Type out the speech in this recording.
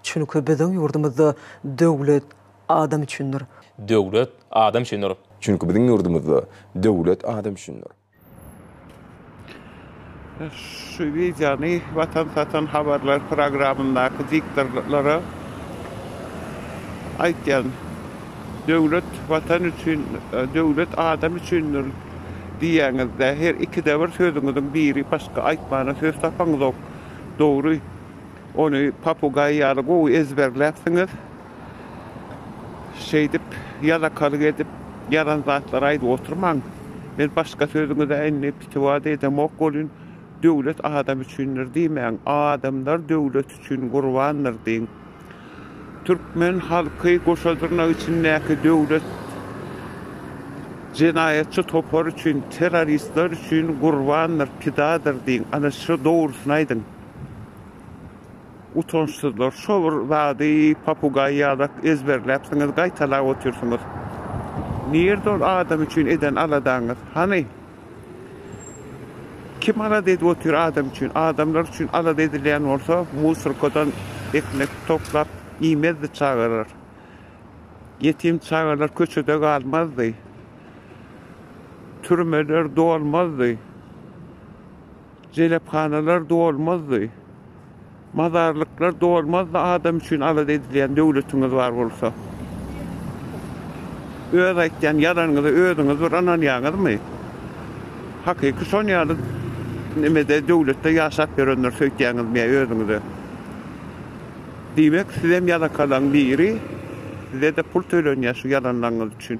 Çünki biziň ýurdumyzda döwlet adam üçindir. Döwlet adam üçindir. Çünki biziň ýurdumyzda döwlet adam üçindir. Şu wideony Watan satan habarlar programyndaky diktorlara aýtýan Döwlet Watan üçin döwlet adam üçindir diýýäňizde her ikide bir sözüňiziň biri başga aýtmana söz tapaňyzok dogry. Ony papugaý ýaly gowy ezberläpsiňiz. Şeýdip, ýalakalyk edip, ýalan zatlary aýdyp oturmaň. Men başga sözüňize indi pitiwat edemok welin, döwlet adam üçindir diýmäň, adamlar döwlet üçin gurbandyr diýiň. Türkmen halky goşa dyrnak içindäki döwlet jenaýatçy topar üçin, terroristler üçin gurbandyr, pidadyr diýiň. Ana, şu dogrusyny aýdyň. Utançsyzlar şo bir zady papugaý ýalak ezberläpsiňiz gaýtalap otyrsyňyz. Nirde ol adam üçin eden aladaňyz? Hany? Kim alada edip otyr adam üçin? Adamlar üçin alada edilýän bolsa musorkadan ekmek toplap iýmezdi çagalar. Ýetim çagalar köçede galmazdy. Türmeler dolmazdy. Jelephanalar dolmazdy. Mazarlyklar dolmazdy adam üçin alada edilýän döwletiňiz bar bolsa. Öz aýtýan ýalanyňyza özüňiz bir ynanýaňyzmy? Hakyky şon ýaly nimede döwletde ýaşap ýörenler söýtýäňizmi ýa özüňize? Diýmek sizem ýalakalaň biri sizede pul tölenýä şu ýalanlaňyz üçin.